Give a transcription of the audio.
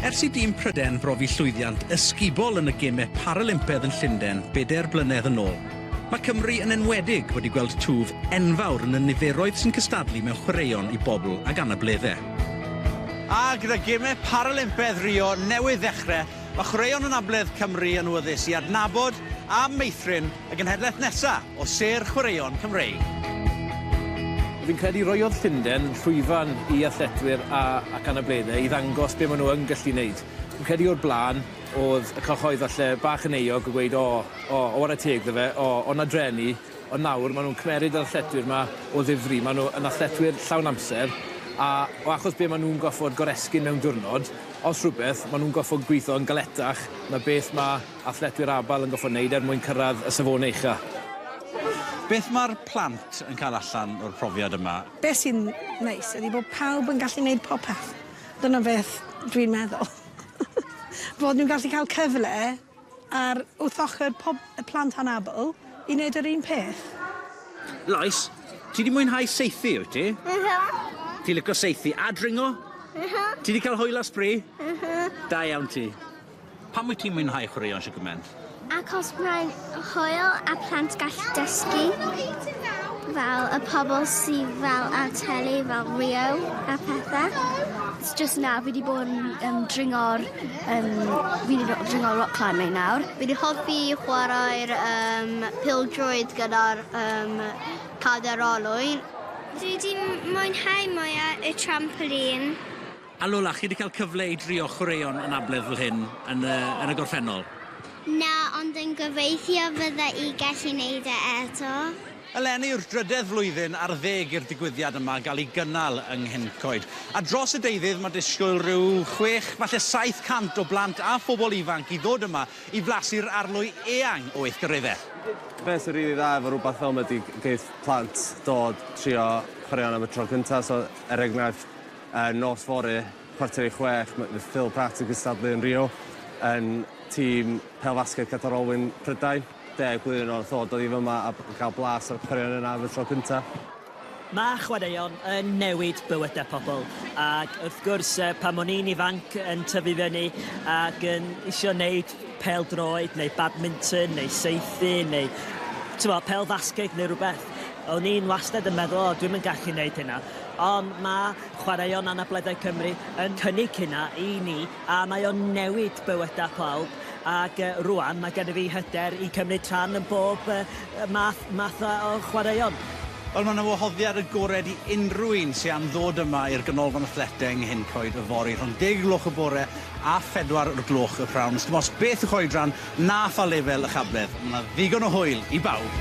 Ers i dîm Pryden brofi llwyddiant ysgubol yn y Gemau Paralympaidd yn Llundain bedair blynedd yn ôl, mae Cymru yn enwedig wedi gweld twf enfawr yn y niferoedd sy'n cystadlu mewn chwaraeon i bobl ag anableddau. A gyda Gemau Paralympaidd Rio newydd ddechrau, mae chwaraeon anabledd Cymru yn wyddus i adnabod a meithrin y genhedlaeth nesaf. o sêr chwaraeon Cymreig. Fi'n credu roiodd Llunden llwyfan i athletwyr a ac anableddau i ddangos be maen nhw yn gallu wneud. Fi'n credu o'r blaen oedd y cyhoedd falle bach yn euog o gweud o, o, o ware teg ddo fe, o, o na dreni, ond nawr maen nhw'n cymeryd yr athletwyr yma o ddifri, maen nhw yn athletwyr llawn amser, a o achos be maen nhw'n goffod goresgyn mewn diwrnod, os rhywbeth, maen nhw'n goffod gweithio yn galetach na beth mae athletwyr abal yn gorfod wneud er mwyn cyrraedd y safonau uchaf. Beth mae'r plant yn cael allan o'r profiad yma? Beth sy'n neis ydy bod pawb yn gallu wneud popeth. Dyna beth dwi'n meddwl. Fod nhw'n gallu cael cyfle ar wrth ochr pob plant anabl i wneud yr un peth. Lois, ti 'di mwynhau saethu, wyt ti? Yhy. Ti'n licio saethu a dringo? Yhy. Ti 'di cael hwyl a sbri? Yhy. Da iawn ti. Pam wyt ti'n mwynhau chwaraeon Sugarman? Achos mae'n hwyl a plant gall dysgu fel y pobl sydd fel ar teli fel Rio a pethau. Jyst nawr fi 'di bod yn yym dringo'r yym fi 'di do- dringo rock climbing nawr. Fi 'di hoffi chwarae'r yym pêl-droed gyda'r yym cade'r olwyn. Dwi 'di m- mwynhau mwya y trampolîn. A Lola, chi wedi cael cyfle i drio chwaraeon anabledd fel hyn yn y, yn y gorffennol? Na, ond yn gobeithio fydda i gallu neud e eto. Eleni yw'r drydedd flwyddyn ar ddeg i'r digwyddiad yma gael ei gynnal yng Nghencoed. A dros y deuddydd mae disgwyl rhyw chwech, falle 700 o blant a phobl ifanc i ddod yma i flasu'r arlwy eang o weithgareddau. Be sy'n rili dda efo rywbeth fel 'ma ydi geith plant dod trio chwaraeon am y tro cynta, so er enghraifft, Yn nos fory, chwarter i chwech, mae Phil Pratt yn cystadlu yn Rio yn tîm pêl-fasged Qatar Olwyn Prydain. Deg blwyddyn o'r tho, dod i fyma a cael blas ar y chwaraeon yna am y tro cyntaf. Mae chwaraeon yn newid bywydau pobl ac wrth gwrs pan o'n i'n ifanc yn tyfu fyny ac yn isio neud pêl-droed neu badminton neu saethu neu t'mo' pêl-fasged neu rhywbeth, o'n i'n wastad yn meddwl 'o dwi'm yn gallu neud hynna'. Ond mae Chwaraeon Anableddau Cymru yn cynnig hynna i ni a mae o'n newid bywydau pawb ac rwan mae gennyf fi hyder i cymryd rhan yn bob math math o chwaraeon. Wel mae 'na wahoddiad agored i unrhyw un sy am ddod yma i'r Ganolfan Athleteg yng Nghyn Coed yfory rhwng deg y gloch y bore a phedwar o'r gloch y p'nawn. Sdim ots beth yw'ch oedran, Na pha lefel y cabledd, mae 'na ddigon o hwyl i bawb!